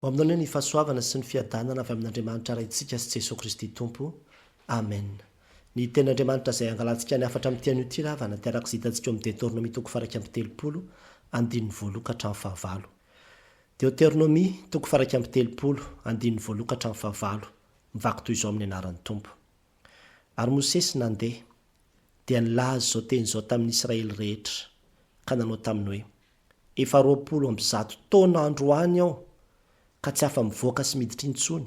Hoaminao anie ny fahasoavana sy ny fiadanana avy amin'Andriamanitra Raintsika sy Jesoa Kristy Tompo. Amen. Ny Tenin'Andriamanitra izay angalantsika ny hafatra amin'ity anio ity ravana dia araka izay hitantsika eo amin'ny Detornomia toko faha iraika amby telopolo, andininy voaloha ka hatramin'ny fahavalo. Deoteronomia, toko faha iraika amby telopolo, andininy voaloha ka hatramin'ny fahavalo, mivaky toy izao amin'ny anaran'ny Tompo. Ary Mosesy nandeha, dia nilaza izao teny izao tamin'ny Israely rehetra, ka nanao taminy hoe. Efa roapolo amby zato taona androany aho ka tsy afa-mivoaka sy miditra intsony,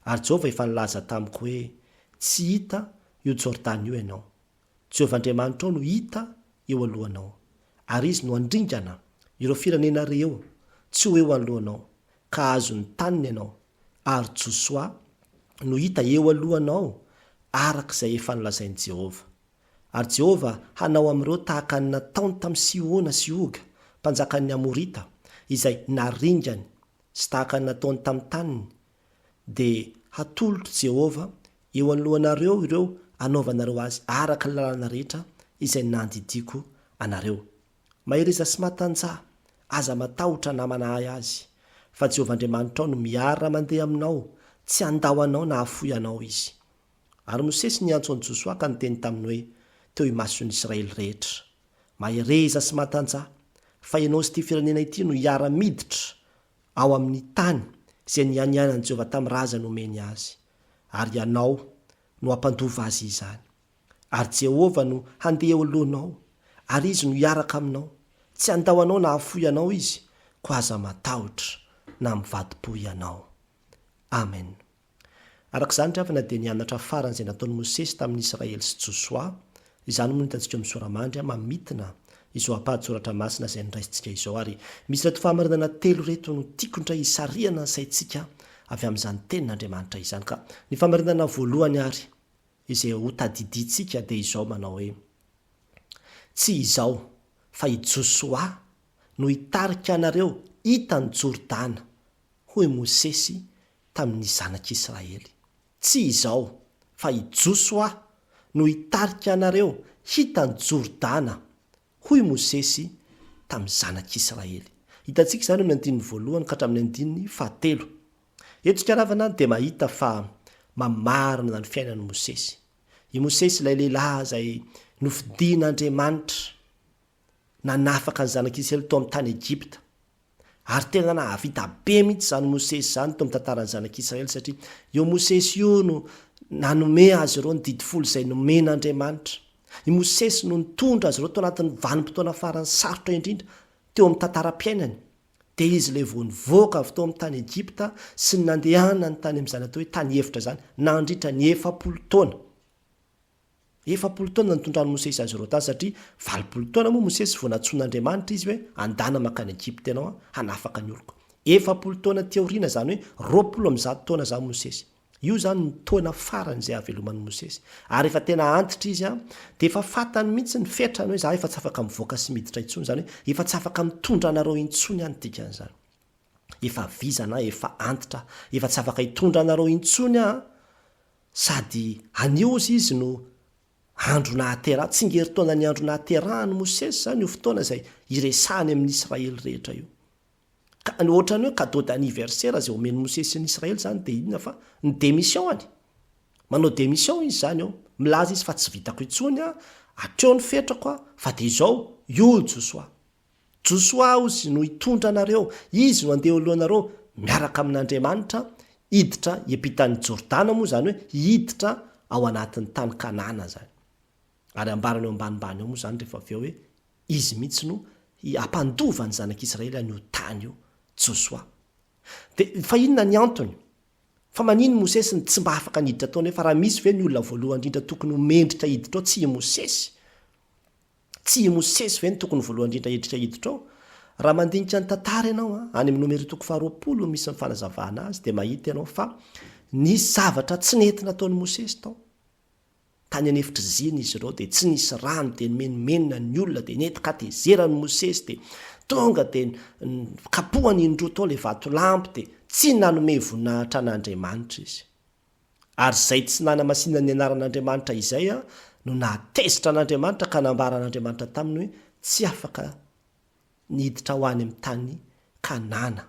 ary Jehovah efa nilaza tamiko hoe, Tsy hita io Jordana io ianao. Jehovah Andriamanitrao no hita eo alohanao, ary izy no handringana ireo firenena reo tsy ho eo anoloanao, ka hahazo ny taniny ianao, ary Josoa no hita eo alohanao, araka izay efa nolazain'i Jehovah. Ary Jehovah hanao amin'ireo tahaka ny nataony tamin'i Sihona sy Oga, mpanjakan'ny Amorita, izay naringany, sy tahaka ny nataony tamin'ny taniny, dia hatolotr'i Jehovah eo anoloanareo ireo hanaovanareo azy araka ny lalana rehetra izay nandidiako anareo. Mahereza sy matanjaha. Aza matahotra na manahy azy, fa Jehovah Andriamanitrao no miara-mandeha aminao, tsy handao anao na hafoy anao izy. Ary Mosesy niantso an'i Josoa ka niteny taminy hoe, Teo imason'ny Israely rehetra, Mahereza sy matanjaha, fa ianao sy ity firenena ity no hiara-miditra ao amin'ny tany izay nianianan'i Jehovah tamin'ny razany homeny azy, ary ianao no hampandova azy izany. Ary Jehovah no handeha eo alohanao, ary izy no hiaraka aminao. Tsy handao anao na hahafoy anao izy, koa aza matahotra na mivadi-po ianao. Amena. Araka izany, ry havana, dia nianatra farany izay nataon'i Mosesy tamin'i Israely sy Josoa. Izany moa no hitantsika ao amin'ny Sora-mandry, mamintina izao ampahan-tsoratra masina izay noraisintsika izao. Ary misy ireto fahamarinana telo ireto no tiako indray hisarihana ny saintsika avy amin'izany Tenin'Andriamanitra izany. Ka ny fahamarinana voalohany ary izay hotadidintsika dia izao manao hoe, Tsy izao, fa i Josoa no hitarika anareo hita ny Jordana, hoy Mosesy tamin'ny zanak'i Israely. Tsy izao, fa i Josoa no hitarika anareo hita an'i Jordana, hoy Mosesy tamin'ny zanak'i Israely. Hitantsika izany eo amin'ny andininy voalohany ka hatramin'ny andininy fahatelo. Eto Tsikanavana dia mahita fa mamarina ny fiainan'i Mosesy. I Mosesy ilay lehilahy izay nofidin'Andriamanitra nanafaka ny zanak'i Israely tao amin'ny tany Egypta. Ary tena nahavita be mihitsy izany Mosesy izany teo amin'ny tantaran'ny Zanak'i Israely, satria io Mosesy io no nanome azy ireo ny Didy Folo izay nomen'Andriamanitra. I Mosesy no nitondra azy ireo tao anatin'ny vanim-potoana farany sarotra indrindra teo amin'ny tantaram-piainany. Dia izy ilay vao nivoaka avy tao amin'ny tany Egypta sy ny nandehanany tany amin'izany atao hoe tany efitra izany, nandritra ny efapolo taona. Efapolo taona nitondran'i Mosesy azy ireo tany, satria valopolo taona moa Mosesy vao nantsoin'Andriamanitra izy hoe, Andana mankany Egypta ianao hanafaka ny oloko. Efapolo taona aty aoriana, izany hoe roapolo amby zato taona izany Mosesy. Io izany no taona farany izay haveloman'i Mosesy. Ary efa tena antitra izy, dia efa fantany mihitsy ny fetrany hoe, Izaho efa tsy afaka mivoaka sy miditra intsony, izany hoe efa tsy afaka mitondra anareo intsony aho, ny dikan'izany. Efa vizana aho, efa antitra aho, efa tsy afaka hitondra anareo intsony aho. Sady anio hozy izy no andro nahaterahany, tsingerintaonan'ny andro nahaterahan'i Mosesy izany io fotoana izay iresahany amin'ny Israely rehetra io. Ka ohatran'ny hoe cadeau d'anniversaire izay omen'i Mosesy ny Israely izany dia inona fa ny démission-any. Manao démission izy izany eo, milaza izy fa tsy vitako intsony aho, hatreo ny fetrako aho, fa dia izao, io i Josoa. Josoa ozy no hitondra anareo, izy no handeha eo alohanareo miaraka amin'Andriamanitra hiditra hiampitan'ny Jordana moa izany hoe hiditra ao anatin'ny tany Kanana izany. Ary ambarany eo ambanimbany eo moa izany rehefa avy eo hoe izy mihitsy no hampandova ny zanak'Israely an'io tany io, Josoa. Dia fa inona ny antony? Fa manin i Mosesy no tsy mba afaka niditra tao nefa raha misy ve ny olona voalohany indrindra tokony ho mendrika hiditra ao tsy i Mosesy? Tsy i Mosesy ve no tokony voalohany indrindra hiditra hiditra ao? Raha mandinika ny tantara ianao, any amin'ny Nomery toko faharoapolo no misy ny fanazavana azy, dia mahita ianao fa nisy zavatra tsy nety nataon'i Mosesy tao. Tany an'efitra zina izy ireo, dia tsy nisy rano, dia nimenomenona ny olona, dia nety katezeran'i Mosesy, dia tonga dia kapohany indroa tao ilay vatolampy, dia tsy nanome voninahitra an'Andriamanitra izy. Ary izay tsy nanamasinany ny anaran'Andriamanitra izay no nahatezitra an'Andriamanitra ka nambara an'Andriamanitra taminy hoe tsy afaka ny hiditra ho any amin'ny tany Kanana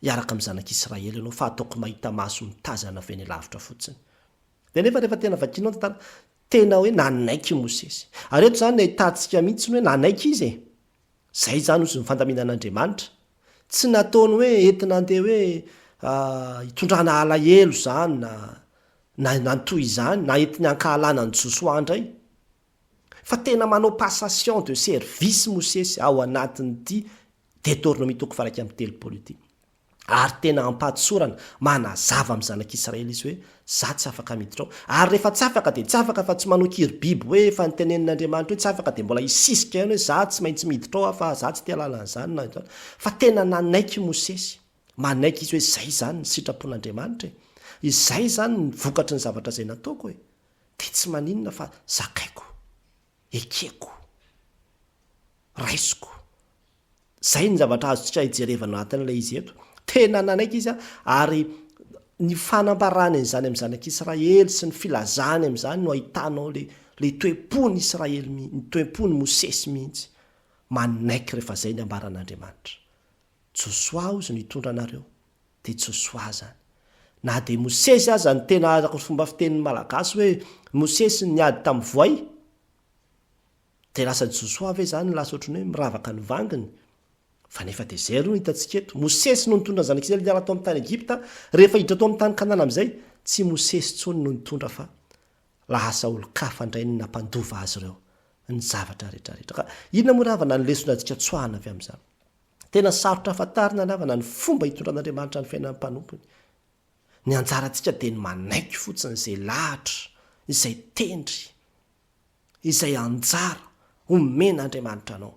hiaraka amin'ny zanak'Israely ianao fa ataoko mahita maso mitazana avy eny lavitra fotsiny. Dia nefa rehefa tena vakinao ny tantara, tena hoe nanaiky i Mosesy. Ary eto izany no ahitantsika mihitsy ny hoe nanaiky izy e. Zay zany ozy ny fandaminana Andriamanitra. Tsy nataony hoe entina andeha hoe hitondrana alahelo zany na na na ny toy izany na entiny ankahalana an'i Josoa ndray. Fa tena manao passation de service Mosesy ao anatin'ity Detornomie toko faha iraika amby telopolo ity. Ary tena ampahatosorana, manazava amin'ny zanak'Israely izy hoe, Izaho tsy afaka miditra ao. Ary rehefa tsy afaka dia tsy afaka fa tsy manao kiribiby hoe efa nitenenin'Andriamanitra hoe tsy afaka dia mbola hisisika ihany hoe, Izaho tsy maintsy miditra ao aho fa izaho tsy tia lalana izany na izany. Fa tena nanaiky Mosesy. Manaiky izy hoe izay izany ny sitrapon'Andriamanitra e. Izay izany ny vokatry ny zavatra izay nataoko e. Dia tsy maninona fa zakaiko. Ekeko. Raisiko. Izay ny zavatra azontsika ijerevana anatin'ilay izy eto. Tena nanaiky izy ary ny fanambarany an'izany amin'ny zanak'Israely sy ny filazany amin'izany no ahitanao ilay ilay toe-pon'i Israely mihitsy, ny toe-pon'i Mosesy mihitsy. Manaiky rehefa izay ny ambaran'Andriamanitra. Josoa hozy no hitondra anareo. Dia Josoa izany. Na dia Mosesy aza ny tena araka ny fomba fitenin'ny Malagasy hoe Mosesy niady tamin'ny voay, Dia lasa Josoa ve izany lasa ohatran'ny hoe miravaka ny vanginy? Fa nefa dia izay ary no hitantsika eto. Mosesy no nitondra ny Zanaka Israely niala tao amin'ny tany Egypta, rehefa hiditra tao amin'ny tany Kanana amin'izay, tsy Mosesy intsony no nitondra fa lasa olon-kafa indray ny nampandova azy ireo ny zavatra rehetra rehetra. Ka inona moa ravana ny lesona antsika tsoahana avy amin'izany? Tena sarotra fantarina ravana ny fomba hitondran'Andriamanitra ny fiainan'ny mpanompony. Ny anjarantsika dia ny manaiky fotsiny izay lahatra, izay tendry. izay anjara omen Andriamanitra anao.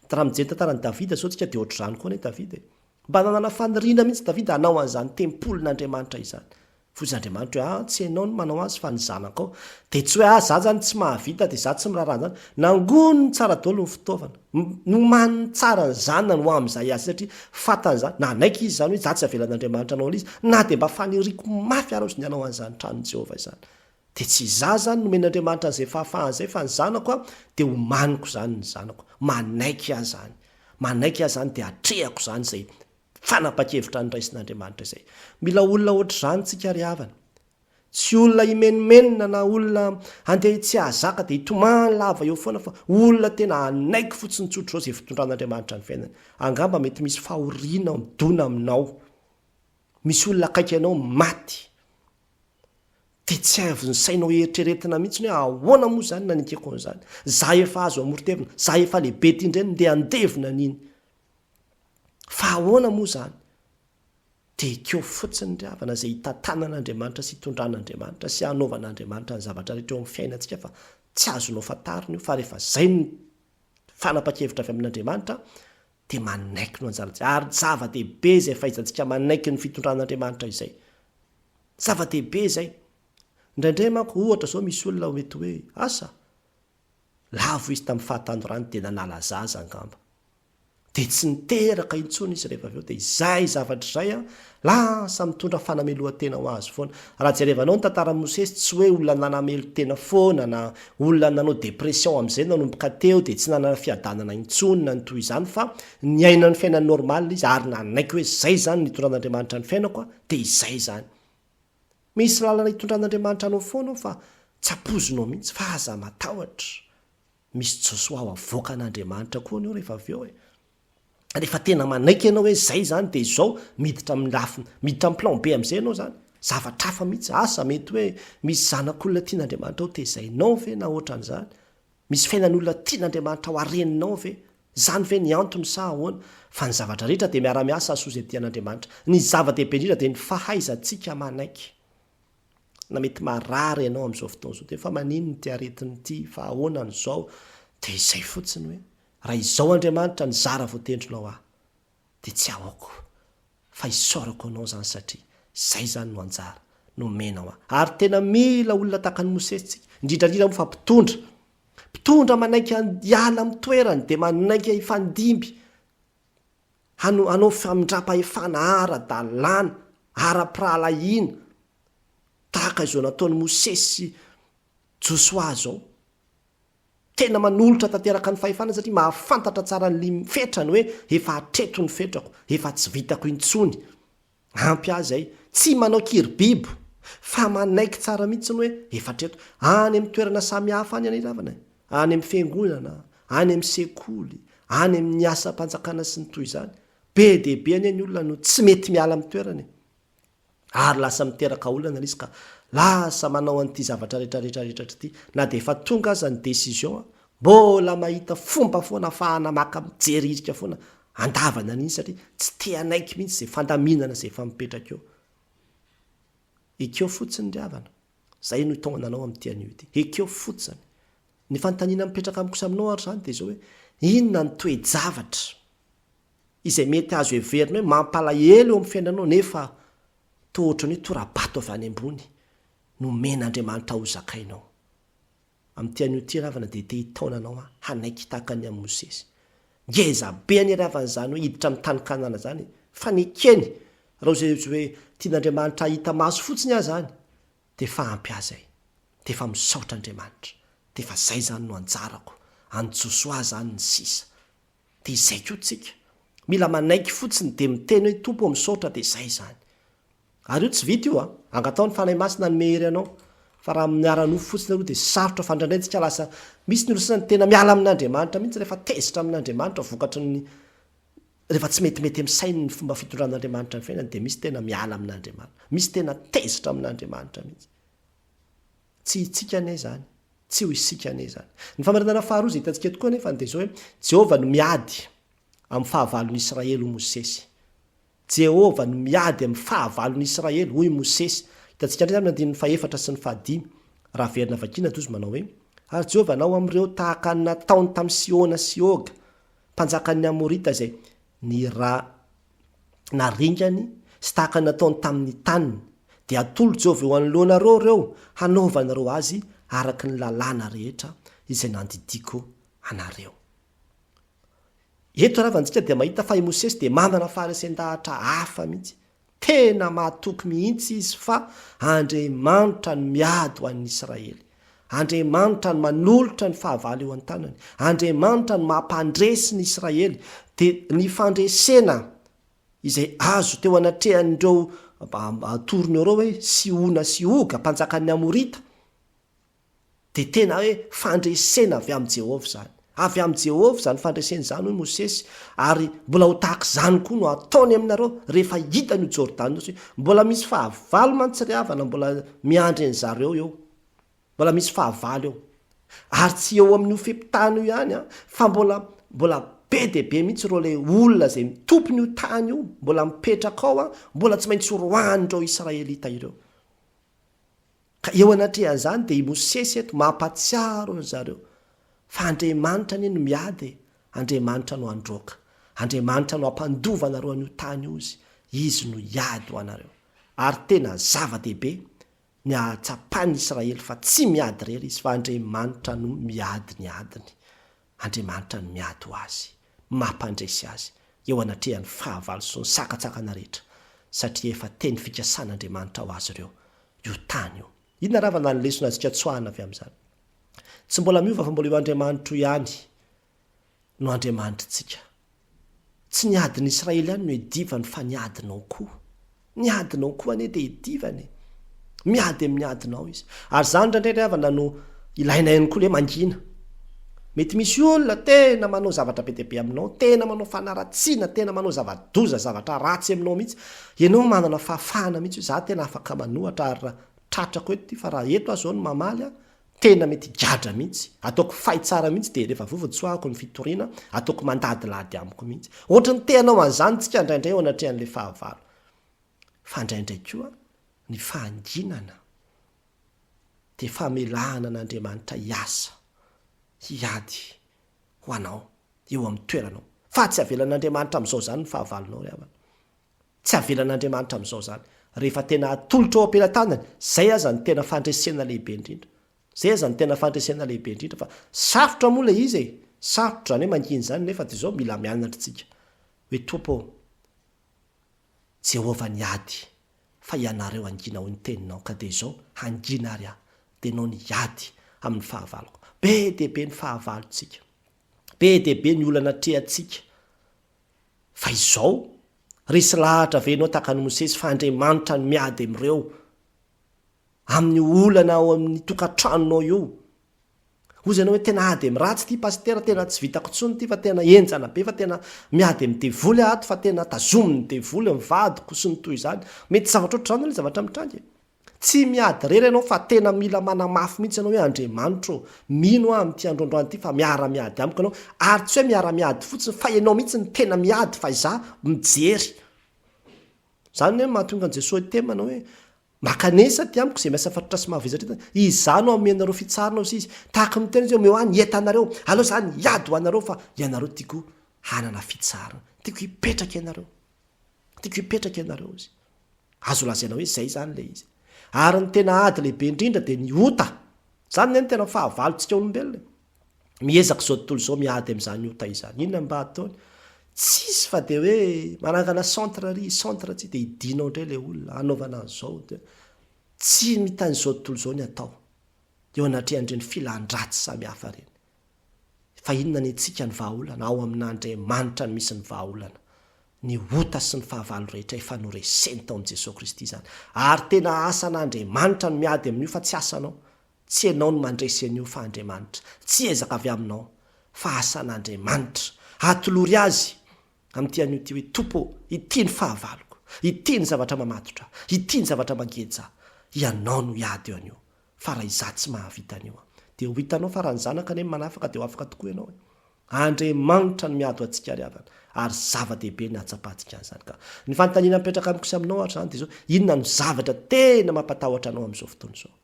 Dia raha mijery ny tantaran Davida zao tsika dia ohatr'izany koa anie Davida e. Mba nanana faniriana mihintsy Davida hanao an'izany tempolin Andriamanitra izany. Voizy Andriamanitra hoe ah tsy enao no manao azy fa ny zanakao. Dia tsy hoe ah za zany tsy mahavita dia za tsy miraharaha an'izany. Nangoniny tsara daholo ny fitaovana. Nomaniny tsara ny zanany ho amin'izay azy satria fantany izany. Nanaiky izy izany hoe za tsy avelan'Andriamanitra hanao an'izy na dia mba faniriako mafy ara ozy ny hanao an'izany tranon'i Jehovah izany. Dia tsy izaho izany nomen'Andriamanitra an'izay fahafahana izay fa ny zanako a, dia homaniko izany ny zanako, manaiky ahy izany, manaiky ahy izany dia atrehako izany izay fanapa-kevitra niraisin'Andriamanitra izay. Mila olona hoatr'izany tsika ry havana. Tsy olona himenomenona na olona handeha tsy hahazaka dia hitomany lava eo foana fa olona tena hanaiky fotsiny tsotra izao izay fitondran'Andriamanitra ny fiainany. Angamba mety misy fahoriana midona aminao, misy olona akaiky anao maty, Dia tsy haivon'ny sainao eritreretina mihitsy hoe ahoana moa izany nanekeko an'izany? Izaho efa azo amoron-tevina, izaho efa lehibe ity indray no ndeha handevina an'iny. Fa ahoana moa izany? Dia ekeo fotsiny ry havana izay hitantanan'Andriamanitra sy hitondran'Andriamanitra sy hanaovan'Andriamanitra ny zavatra rehetra eo amin'ny fiainantsika fa tsy azonao fantarina io fa rehefa izay ny fanapa-kevitra avy amin'Andriamanitra dia manaiky no anjanantsika. Ary zava-dehibe izay fahaizantsika manaiky ny fitondran'Andriamanitra izay. Zava-dehibe izay. Indraindray manko, ohatra izao misy olona mety hoe, asa, lavo izy tamin'ny fahatanorany dia nanala zaza angamba. Dia tsy niteraka intsony izy rehefa avy eo, dia izay zavatra izay an, Lasa mitondra fanamelohan-tena ho azy foana. Raha jerevanao ny tantaran'i Mosesy, tsy hoe olona nanamelo tena foana na olona nanao dépression amin'izay nanomboka teo dia tsy nanana fiadanana intsony na ny toy izany fa niaina ny fiainany normal izy ary nanaiky hoe izay izany no nitondran'Andriamanitra ny fiainako a, dia izay izany. Misy lalana hitondran'Andriamanitra anao foana ao fa tsy ampoizinao mihitsy fa aza matahotra, misy Josoa ho avoakan'Andriamanitra koa anao rehefa avy eo e. rehefa tena manaiky ianao hoe zay zany de izao miditra amin'ny lafiny miditra amin'ny plan be am'zay ianao zany zavatra hafa mihitsy asa mety hoe misy zanak'olona tian'Andriamanitra ho tezainao ve na ohatran'izany misy fiainan'olona tian'Andriamanitra ho hareninao ve zany ve ny antony sa ahoana fa ny zavatra rehetra dia miara-miasa hasoa izay tian'Andriamanitra ny zava-dehibe indrindra dia ny fahaizantsika manaiky na mety marary ianao amin'izao fotoana izao dia fa maninona ity aretina ity fa ahoana an'izao dia izay fotsiny hoe Raha izao Andriamanitra nizara voatendrinao aho dia tsy aoko fa isaorako anao izany satria izay izany no anjara nomenao ahy. Ary tena mila olona tahaka an'i Mosesy tsika, indrindra indrindra moa fa mpitondra. Mpitondra manaiky hiala amin'ny toerany dia manaiky hifandimby hano, hanao famindram-pahefana ara-dalàna, ara-pirahalahiana, tahaka izao nataon'i Mosesy sy Josoa izao. Tena manolotra tanteraka ny fahefana satria mahafantatra tsara ny lim fetrany hoe efa hatreto ny fetrako, efa tsy vitako intsony. Ampy azy ay. Tsy manao kiribibo fa manaiky tsara mihitsiny hoe efa hatreto. Any amin'ny toerana samy hafa any aniravana e. Any amin'ny fiangonana, any amin'ny sekoly, any amin'ny asam-panjakana sy ny toy izany. Be dia be anie ny olona no tsy mety miala amin'ny toerana e. ary lasa miteraka olana ilay izy ka lasa manao an'ity zavatra rehetra rehetra rehetra ity na dia efa tonga aza ny décision an, mbola mahita fomba foana afahana maka mijery hirika foana andavana an'iny satria tsy te hanaiky mihitsy izay fandaminana izay efa mipetraka eo. Ekeo fotsiny ry havana, izay no itaomana anao amin'ity anio ity, ekeo fotsiny. Ny fanontaniana mipetraka amiko sy aminao ary izany dia izao hoe inona ny toe-javatra izay mety azo heverina hoe mampalahelo eo amin'ny fiainanao nefa toa ohatran'ny hoe tora-bato avy any ambony nomen'Andriamanitra hozakainao. Amin'ity anio ity ravana dia te hitaona anao hanaiky tahaka ny an'i Mosesy. Ngeza be anie ravana izany hoe hiditra amin'ny tany Kanana izany e! Fa nekeny raha izay hoe tian'Andriamanitra hahita maso fotsiny aza any dia efa ampy azy ahy. Dia efa misaotra Andriamanitra. Dia efa izay izany no anjarako. An'i Josoa izany ny sisa. Dia izay koa tsika. Mila manaiky fotsiny dia miteny hoe Tompo ô misaotra dia izay izany. Ary io tsy vita io a! Angataho ny Fanahy Masina hanome hery anao. Fa raha amin'ny ara-nofo fotsiny aloha dia sarotra fandrandraintsika lasa misy ny olona sasany tena miala amin'Andriamanitra mihitsy rehefa tezitra amin'Andriamanitra vokatry ny rehefa tsy metimety amin'ny sainy ny fomba fitondran'Andriamanitra ny fiainany dia misy tena miala amin'Andriamanitra. Misy tena tezitra amin'Andriamanitra mihitsy. Tsy hitsika anie izany. Tsy ho isika anie izany. Ny famarinana faharoa izay hitantsika tokoa anefa dia izao hoe Jehovah no miady amin'ny fahavalon'i Israely, hoy Mosesy. Jehovah no miady amin'ny fahavalon'i Israely, hoy Mosesy. Hitantsika indray izany amin'ny andininy fahefatra sy ny fahadimy, raha averina vakiana toy izao manao hoe, Ary Jehovah hanao amin'ireo tahaka ny nataony tamin'i Sihona sy Oga, mpanjakan'ny Amorita izay nira na ringany sy tahaka ny nataony tamin' ny taniny, dia hatolo Jehovah eo anoloanareo ireo hanaovanareo azy araka ny lalàna rehetra izay nandidiako anareo. Eto raha antsika dia mahita fa i Mosesy dia manana faharesen-dahatra hafa mihitsy. Tena mahatoky mihitsy izy fa Andriamanitra no miady ho an' ny Israely. Andriamanitra no manolotra ny fahavalo eo an-tanany. Andriamanitra no mampandresy ny Israely. Dia ny fandresena izay azo teo anatrehan'ireo atorony ireo hoe Sihona sy Oga, mpanjakan'ny Amorita, dia tena hoe fandresena avy amin'i Jehovah izany. Avy amin'i Jehovah izany fandresena izany, hoy Mosesy, ary mbola ho tahaka izany koa no hataony aminareo, rehefa hitany io Jordana io, satria mbola misy fahavalo mantsiriavana mbola miandry an-dry zareo eo. Mbola misy fahavalo eo. Ary tsy eo amin'io fe-potana io ihany, fa mbola, mbola be dia be mihitsy ireo ilay olona izay tompon'io tany io, mbola mipetraka ao, mbola tsy maintsy horoahin'ireo Israelita ireo. Ka eo anatrehan'izany dia i Mosesy eto mampatsiaro an-dry zareo fa Andriamanitra anie no miady e, Andriamanitra no handroaka, Andriamanitra no hampandova anareo an'io tany io Izy, Izy no hiady ho anareo. Ary tena zava-dehibe ny hahatsapan'i Israely fa tsy miady irery izy fa Andriamanitra no miady ny adiny. Andriamanitra no miady ho azy, mampandresy azy eo anatrehan'ny fahavalo sy ny sakantsakana rehetra, satria efa teny fikasan'Andriamanitra ho azy ireo io tany io. Inona raha vana ny lesona azontsika tsoahana avy amin'izany? Tsy mbola miova fa mbola io Andriamanitro ihany no Andriamanitritsika. Tsy ny adin'ny Israely ihany no iadivany fa ny adinao koa. Ny adinao koa anie dia iadivany e! Miady amin'ny adinao Izy. Ary izany indraindray ry havana no ilainay ihany koa ny hoe mangina. Mety misy olona tena manao zavatra be dia be aminao, tena manao fanaratsiana, tena manao zava-doza, zavatra ratsy aminao mihitsy. Ianao manana fahafahana mihitsy hoe izaho tena afaka manohatra ary raha tratrako eto ity fa raha eto aho izao no mamaly an, Tena mety gadra mihitsy, ataoko fay tsara mihitsy dia rehefa vovo tsoahako ny fitoriana, ataoko mandadilady amiko mihitsy. Ohatry ny te hanao an'izany tsika indraindray eo anatrehan'ilay fahavalo. Fa indraindray koa ny fahanginana dia famelahana an'Andriamanitra hiasa, hiady ho anao eo amin'ny toeranao. Fa tsy avelan'Andriamanitra amin'izao izany ny fahavalonao ry havana. Tsy avelan'Andriamanitra amin'izao izany. Rehefa tena atolotra ao am-pelatanany, izay aza no tena fandresena lehibe indrindra. Izay aza no tena fandresena lehibe indrindra fa sarotra moa ilay izy e! Sarotra izany hoe mangina izany nefa dia izao mila mianatra isika hoe Tompo ô, Jehovah ny ady fa ianareo hangina hoy ny teninao ka dia izao hangina ary aho dia ianao ny hiady amin'ny fahavaloko. Be dia be ny fahavalontsika. Be dia be ny olana atrehantsika. Fa izao, resy lahatra ve ianao tahaka an'i Mosesy fa Andriamanitra no miady amin'ireo, amin'ny olana ao amin'ny tokantranonao io? Hozy ianao hoe tena ady amin'ny ratsy ity pasitera, tena tsy vitako intsony ity fa tena henjana be fa tena miady amin'ny devoly aho ato fa tena tazomin'ny devoly ny vadiko sy ny toy izany. Mety zavatra ohatr'izany ilay zavatra mitranga e. Tsy miady irery ianao fa tena mila manamafy mihitsy ianao hoe Andriamanitra ô, mino aho amin'ity androandroany ity fa miara-miady amiko ianao, ary tsy hoe miara-miady fotsiny fa ianao mihitsy no tena miady fa izaho mijery. Izany no mahatonga an'i Jesoa hiteny manao hoe, Mankanesa aty amiko izay miasa fatratra sy mavesatra entana, izaho no hanome anareo fitsarana hoy Izy. Tahaka ny miteny izy hoe, omeo ahy ny entanareo, aleo izaho niady ho anareo fa ianareo tiako hanana fitsarana, tiako hipetraka ianareo. Tiako hipetraka ianareo izy. Azo lazaina hoe izay izany ilay izy. Ary ny tena ady lehibe indrindra dia ny ota. Izany anie no tena fahavalontsika olombelona e. Miezaka izao tontolo izao miady amin'izany ota izany. Inona no mba ataony? Tsisy fa dia hoe manangana centre ary centre tsy dia hidianao indray ilay olona, hanaovana an'izao. Tsy mitan'izao tontolo izao ny atao eo anatrehan'ireny filan-dratsy samihafa ireny. Fa inona ny antsika ny vahaolana? Ao amin'Andriamanitra no misy ny vahaolana. Ny ota sy ny fahavalo rehetra efa noreseny tao amin'i Jesoa Kristy izany. Ary tena asan'Andriamanitra ny miady amin'io fa tsy asanao. Tsy ianao no mandresy an'io fa Andriamanitra. Tsy ezaka avy aminao fa asan'Andriamanitra. Atolory Azy amin'ity anio ity hoe, Tompo ô, ity ny fahavaloko. Ity ny zavatra mamatotra. Ity ny zavatra mangeja. Ianao no hiady eo anio. fa raha izaho tsy mahavita an'io an! dia ho hitanao fa raha ny zanaka anie no manafaka dia ho afaka tokoa ianao e! Andriamanitra no miady ho antsika ry havana ary zava-dehibe ny hahatsapantsika an'izany ka! Ny fanontaniana mipetraka amiko sy aminao ohatra izany dia izao, inona no zavatra tena mampatahotra anao amin'izao fotoana izao?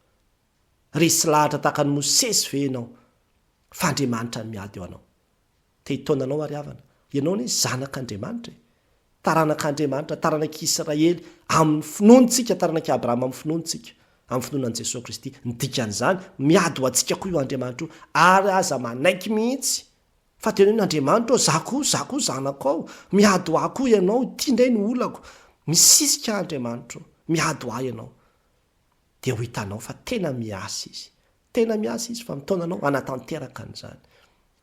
Resy lahatra tahaka an'i Mosesy ve ianao fa Andriamanitra no miady ho anao? Te hitaona anao ary havana. Ianao anie zanak'Andriamanitra e! Taranak'Andriamanitra, taranak'i Israely amin'ny finoany tsika, taranak'i Abrahama amin'ny finoany tsika, amin'ny finoana an'i Jesoa Kristy. Ny dikan'izany, miady ho antsika koa io Andriamanitra io, ary aza manaiky mihitsy fa tena hoe n'Andriamanitra aho, za koa, za koa zanako ao, miady ho ahy koa ianao, ity indray no olako. Misisika ahy Andriamanitra o, miady ho ahy ianao. Dia ho hitanao fa tena miasa izy. Tena miasa izy fa mitaona anao hanatanteraka an'izany.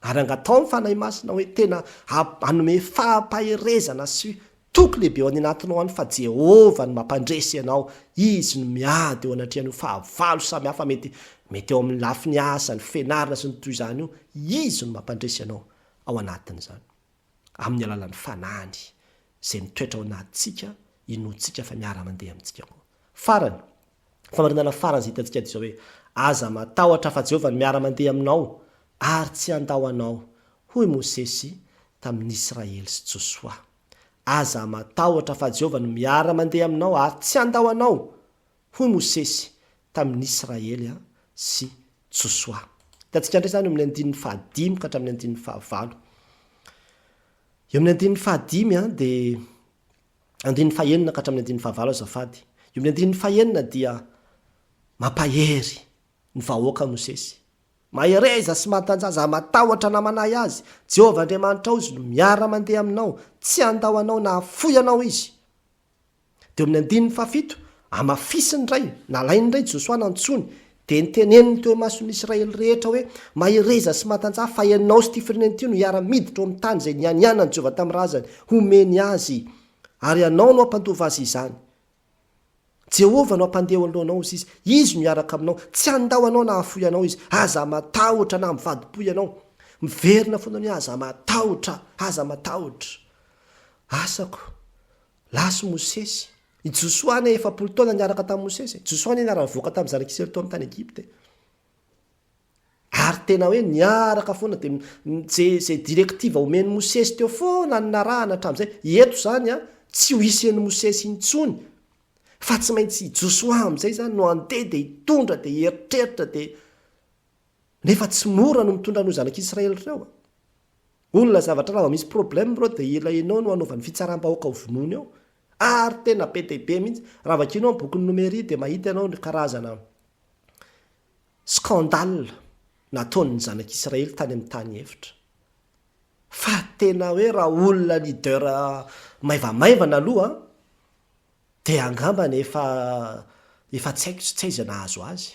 Ary angataho amin'ny Fanahy Masina hoe tena hanome fampaherezana sy toky lehibe ao aninatinao any fa Jehovah no mampandresy anao, Izy no miady eo anatrehan'io fahavalo samihafa mety mety eo amin'ny lafiny asa, ny fianarana sy ny toy izany io, Izy no mampandresy anao ao anatin'izany. amin'ny alalan'ny Fanahiny izay mitoetra ao anatintsika inoantsika fa miara-mandeha amintsika koa. Farany, famarinana farany izay hitantsika dia izao hoe, Aza matahotra fa Jehovah no miara-mandeha aminao ary tsy handao anao, hoy Mosesy tamin'ny Israely sy Josoa. Aza matahotra fa Jehovah no miara-mandeha aminao ary tsy handao anao, hoy Mosesy tamin'ny Israely sy Josoa. Hitantsika indray izany eo amin'ny andininy fahadimy ka hatramin'ny andininy fahavalo. Eo amin'ny andininy fahadimy dia andininy fahenina ka hatramin'ny andininy fahavalo azafady. Eo amin'ny andininy fahenina dia mampahery ny vahoaka Mosesy. Mahereza sy matanjaza, matahotra na manahy azy. Jehovah Andriamanitrao izy no miara-mandeha aminao. Tsy handao anao na hafoy anao izy. Dia eo amin'ny andininy fahafito, amafisiny indray, nalainy indray Josoa nantsoiny, dia niteneniny teo imason'ny Israely rehetra hoe, Mahereza sy matanjaha, fa ianao sy ity firenena ity no hiara-miditra eo amin'ny tany izay nianianan'i Jehovah tamin'ny razany homeny azy, ary ianao no hampandova azy izany. Jehovah no hampandeha eo anoloanao hoy izy, izy no hiaraka aminao, tsy handao anao na hahafoy anao izy. Aza matahotra na mivadi-po ianao. Miverina foana hoe, Aza matahotra! Aza matahotra! Asako. Lasa i Mosesy. I Josoa anie efapolo taona niaraka tamin'i Mosesy e. Josoa anie niara-nivoaka tamin'ny zanak'Israely tao amin'ny tany Egypta e. Ary tena hoe niaraka foana dia izay izay directive omen'i Mosesy teo foana no narahana hatramin'izay. Eto izany an, tsy ho hisy an'i Mosesy intsony fa tsy maintsy i Josoa amin'izay izany no handeha dia hitondra dia hieritreritra dia nefa tsy mora no mitondra an'ireo zanak'Israely ireo a. Olona zavatra raha vao misy problème bro dia ilay enao no anaovan'ny fitsarambahoaka ho vonoiny eo ary tena be dia be mihitsy raha vakianao ny bokin'ny nomery dia mahita ianao ny karazana scandale nataon'ny zanak'israely tany amin'ny tany efitra fa tena hoe raha olona leader maivamaivana aloha dia angambany efa efa tsy haiko tsy aiza nahazo azy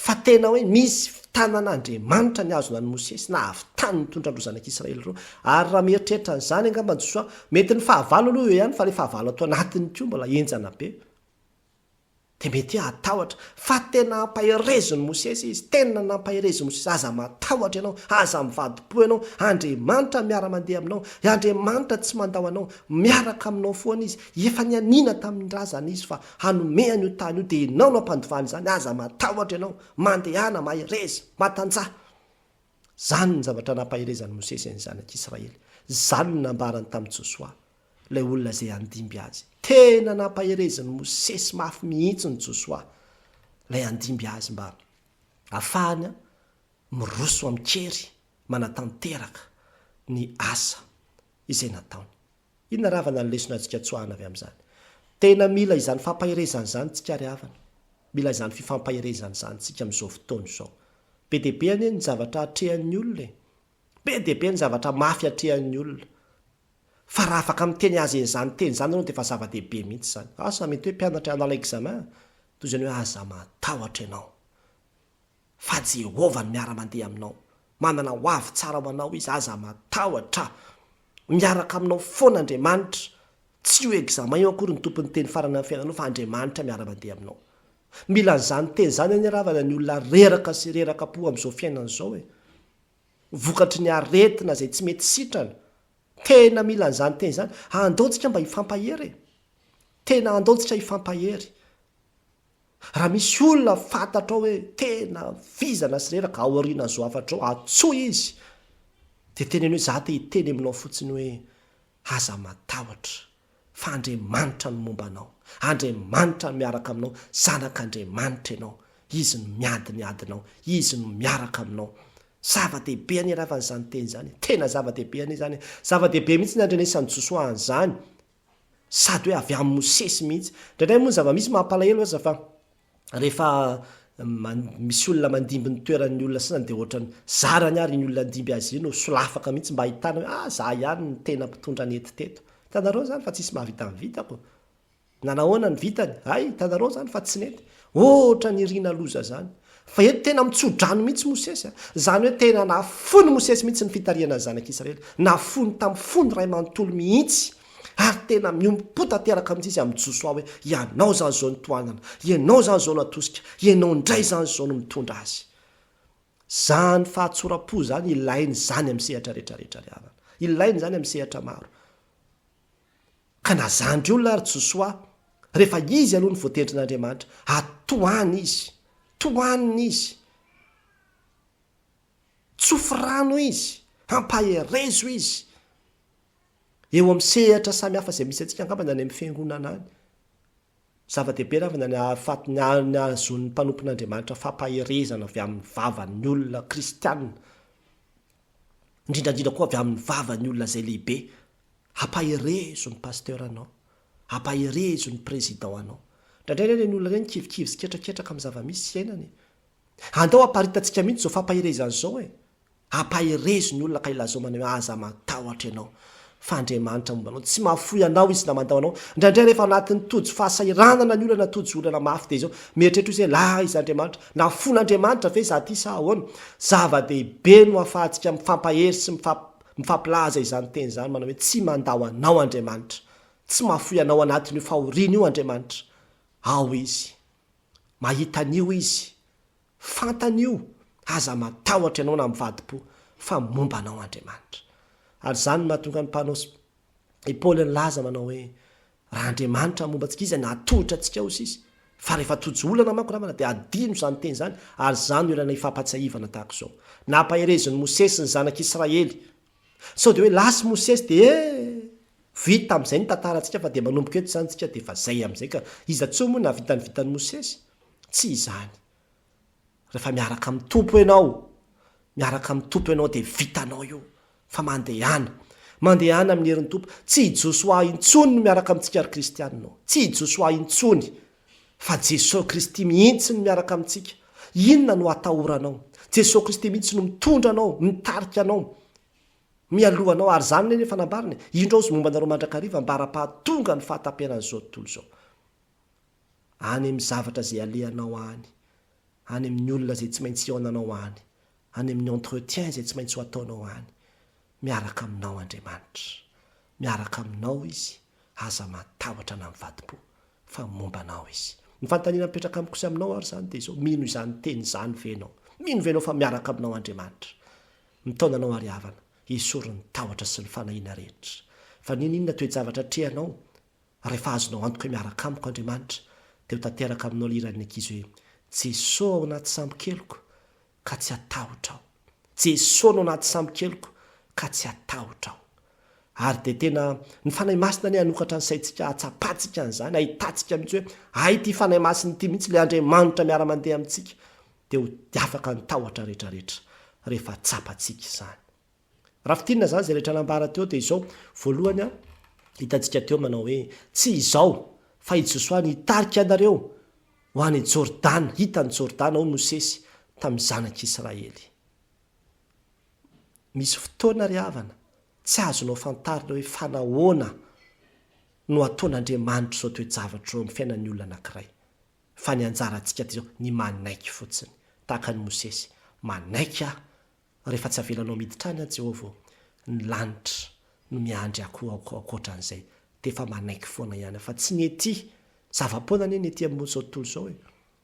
fa tena hoe misy tanan'Andriamanitra nihazona an'i Mosesy na avy tany nitondra an'ireo zanak'Israely ireo, ary raha mieritreritra an'izany angamba Josoa, mety ny fahavalo aloha eo ihany fa ilay fahavalo ato anatiny koa mbola henjana be, dia mety hoe hatahotra, fa tena hampaherezin'i Mosesy izy, tena nampaherezin'i Mosesy, aza matahotra ianao, aza mivadi-po ianao, Andriamanitra miara-mandeha aminao, Andriamanitra tsy mandao anao, miaraka aminao foana Izy, efa nianiana tamin'ny razana Izy fa hanome an'io tany io dia ianao no hampandovana izany aza matahotra ianao, mandehana, mahereza, matanjaha. Izany ny zavatra nampaherezan'i Mosesy an'ny zanak'Israely, izany no nambarany tamin'i Josoa, ilay olona izay handimby azy. Tena nampaherezin'i Mosesy mafy mihitsy an'i Josoa, ilay handimby azy mba hafahany miroso amin-kery manatanteraka ny asa izay nataony. Inona ravana ny lesona azontsika tsoahana avy amin'izany? Tena mila izany fampaherezana izany tsika ry havana. Mila izany fifampaherezana izany tsika amin'izao fotoana izao. Be dia be anie ny zavatra atrehan'ny olona e! Be dia be ny zavatra mafy atrehan'ny olona. Fa raha afaka miteny azy an'izany teny izany ianao dia efa zava-dehibe mihitsy izany. Asa mety hoe mpianatra hanala examen? Toy izany hoe aza matahotra ianao. fa Jehovah no miara-mandeha aminao. Manana ho avy tsara ho anao izy, aza matahotra. Miaraka aminao foana Andriamanitra. Tsy io examen io akory no tompon'ny teny farany amin'ny fiainanao fa Andriamanitra miara-mandeha aminao. Mila an'izany teny izany anie ravana ny olona reraka sy reraka po amin'izao fiainana izao e. Vokatry ny aretina izay tsy mety sitrana. Tena mila an'izany teny izany. Andao tsika mba hifampahery e. Tena andao tsika hifampahery. Raha misy olona fantatrao hoe tena vizana sy reraka ao aorianan'izao hafatra izao, antsoy izy dia teneno hoe za te hiteny aminao fotsiny hoe aza matahotra fa Andriamanitra no momba anao, Andriamanitra no miaraka aminao, zanak'Andriamanitra ianao, Izy no miady ny adinao, Izy no miaraka aminao. Zava-dehibe anie raha fa an'izany teny izany e! Tena zava-dehibe anie izany e! Zava-dehibe mihitsy ny andrenesan'i Josoa an'izany Sady hoe avy amin'i Mosesy mihitsy. Indraindray moa ny zava-misy mampalahelo aza fa rehefa misy olona mandimby ny toeran'ny olona sasany dia ohatrany zarany ary iny olona handimby azy iny no solafaka mihitsy mba hahitana hoe ah za ihany no tena mpitondra nety teto. Hitanareo izany fa tsisy mahavita ny vitako. Na nahoana ny vitany, hay, hitanareo izany fa tsy nety. Ohatra ny irina loza izany. Fa eto tena mitsodrano mihitsy Mosesy a! Izany hoe tena nafoiny Mosesy mihitsy ny fitarihana ny zanak'i Israely. Nafoiny tamin'ny fony iray manontolo mihitsy. Ary tena miombom-po tanteraka mihitsy izy amin'i Josoa hoe, Ianao izany izao no tohanana. Ianao izany izao no atosika. Ianao indray izany izao no mitondra azy. Izany fahatsoram-po izany ilaina izany amin'ny sehatra rehetra rehetra ry havana. Ilaina izany amin'ny sehatra maro. Ka na zandry olona ary Josoa, rehefa izy aloha no voatendrin'Andriamanitra, ary tohany izy, tohanina izy, tsofy rano izy, hampaherezo izy, eo amin'ny sehatra samy hafa izay misy antsika angamba na any amin'ny fiangonana any. Zava-dehibe raha avy na ny haharo faty, ny hahazoan'ny mpanompon'Andriamanitra fampaherezana avy amin'ny vavan'ny olona kristianina. indrindra indrindra koa avy amin'ny vavan'ny olona izay lehibe, hampaherezo ny pasteur anao, hampaherezo ny président anao, indraindray anie ireny olona ireny kivikivy sy ketraketraka amin'ny zava-misy iainana e! andao aparitantsika mihitsy izao fampaherezana izao e! hampaherezo ny olona ka ilazao manao hoe aza matahotra ianao, Fa Andriamanitra momba anao, tsy mahafoy anao Izy na mandao anao. Indraindray rehefa anatin'ny tojo fahasahiranana ny olana, tojo olana mafy dia izao, mieritreritra hoe izay, la iza Andriamanitra? Nahafoin'Andriamanitra ve izaho ity sa ahoana? Zava-dehibe no ahafahantsika mifampahery sy mifampilaza izany teny izany, manao hoe, Tsy mandao anao Andriamanitra. Tsy mahafoy anao anatin'io fahoriana io Andriamanitra. Ao Izy. Mahita an'io Izy. Fantany io, aza matahotra ianao na mivadi-po, fa momba anao Andriamanitra. Ary izany no nahatonga ny mpanao sy i Paoly nilaza manao hoe, Raha Andriamanitra no momba antsika, iza no hahatohitra antsika ao sisa? Fa rehefa tojo olana manko namana, dia adino izany teny izany, ary izany no ilana hifampahatsiahivana tahaka izao. Nampaherezin'i Mosesy ny zanak'i Israely. Sao dia hoe lasy Mosesy dia e! Vita amin'izay ny tantarantsika fa dia manomboka eto izany isika dia efa izay amin'izay ka iza tsoa moa nahavita ny vitan'i Mosesy? Tsy izany. Rehefa miaraka amin'ny Tompo ianao, miaraka amin'ny Tompo ianao dia vitanao io, fa mandehana. Mandehana amin'ny herin'ny Tompo. Tsy i Josoa intsony no miaraka amintsika ry kristiana ô. Tsy i Josoa intsony. Fa Jesoa Kristy mihitsy no miaraka amintsika. Inona no atahoranao? Jesoa Kristy mihitsy no mitondra anao, mitarika anao, mialoha anao. Ary izany ilay efa nambarany e. Indro aho sy momba anareo mandrakariva mba ara-pahatonga ny fahataperan'izao tontolo izao. any amin'ny zavatra izay alehanao any, any amin'ny olona izay tsy maintsy hihaonanao any, any amin'ny entretien izay tsy maintsy ho ataonao any. Miaraka aminao Andriamanitra. Miaraka aminao Izy, aza matahotra na mivadi-po, fa momba anao Izy. Ny fanontaniana mipetraka amiko sy aminao ary izany dia izao, mino izany teny izany ve ianao? Mino ve ianao fa miaraka aminao Andriamanitra? Mitaona anao ary havana, esory ny tahotra sy ny fanahiana rehetra. Fa n'inon'inona toe-javatra atrehanao, Rehefa azonao antoka hoe miaraka amiko Andriamanitra dia ho tanteraka aminao ilay hiran'ny ankizy hoe, Jeso ao anaty sambo-keliko ka tsy hatahotra aho. Jeso no anaty sambo-keliko ka tsy hatahotra aho. Ary dia tena, ny Fanahy Masina anie hanokatra ny saintsika hahatsapantsika an'izany, hahitantsika mihitsy hoe, hay ity Fanahy Masina ity mihitsy ilay Andriamanitra miara-mandeha amintsika, dia ho afaka ny tahotra rehetra rehetra rehefa tsapantsika izany. Raha fintinina izany izay rehetra nambara teo dia izao, voalohany an, hitantsika teo manao hoe, tsy izaho, fa i Josoa no hitarika anareo ho any Jordana, hitan'i Jordana hoy Mosesy tamin'ny zanak'Israely. Misy fotoana ry havana, tsy azonao fantarina hoe fa nahoana no ataon'Andriamanitra izao toe-javatra izao amin'ny fiainan'ny olona anankiray. Fa ny anjarantsika dia izao, ny manaiky fotsiny, tahaka an'i Mosesy, manaiky aho Rehefa tsy avelanao miditra any an Jehovah ô, ny lanitra no miandry ako ankoatran'izay dia efa manaiky foana ihany aho fa tsy ny ety, zava-poana anie ny ety amin'izao tontolo izao e!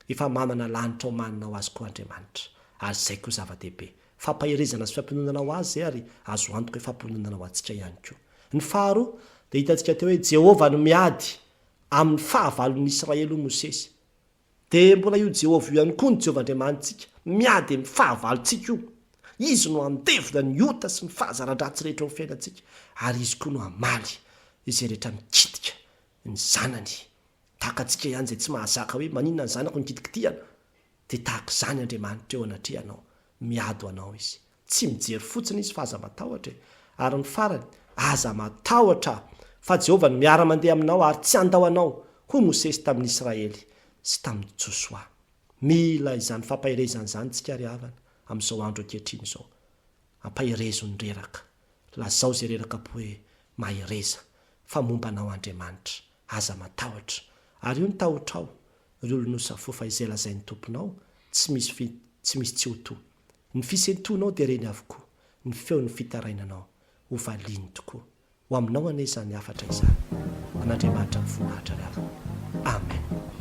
Efa manana lanitra omanina ho azy koa Andriamanitra, ary izay koa zava-dehibe. Fampaherezana sy fampiononana ho azy izay ary azo antoka hoe fampiononana ho antsika ihany koa. Ny faharoa dia hitantsika teo hoe Jehovah no miady amin'ny fahavalon'ny Israely hoy Mosesy, Dia mbola io Jehovah io ihany koa ny Jehovah Andriamanitsika, miady amin'ny fahavalontsika io. Izy no handevona ny ota sy ny fahazara-dratsy rehetra ao amin'ny fiainantsika, ary izy koa no hamaly izay rehetra mikitika ny zanany. Tahaka antsika ihany izay tsy mahazaka hoe maninona ny zanako no kitikitihana, dia tahaka izany Andriamanitra eo anatrehanao, miady ho anao izy. Tsy mijery fotsiny izy fa aza matahotra e! Ary ny farany, Aza matahotra, fa Jehovah no miara-mandeha aminao ary tsy handao anao, hoy Mosesy tamin'ny Israely sy tamin'i Josoa. Mila izany fampaherezana izany isika ry havana, amin'izao andro ankehitriny izao. Ampaherezo ny reraka. Lazao izay reraka ampy hoe, Mahereza, fa momba anao Andriamanitra. Aza matahotra. Ary io ny tahotrao, ry olon'osa fo, fa izay lazain'ny Tomponao, tsy misy, tsy misy tsy ho toa. Ny fisentoanao dia ireny avokoa ny feon'ny fitarainanao ho valiany tokoa. Ho aminao anie izany hafatra izany. An'Andriamanitra mivoninahitra ry havana. Amen.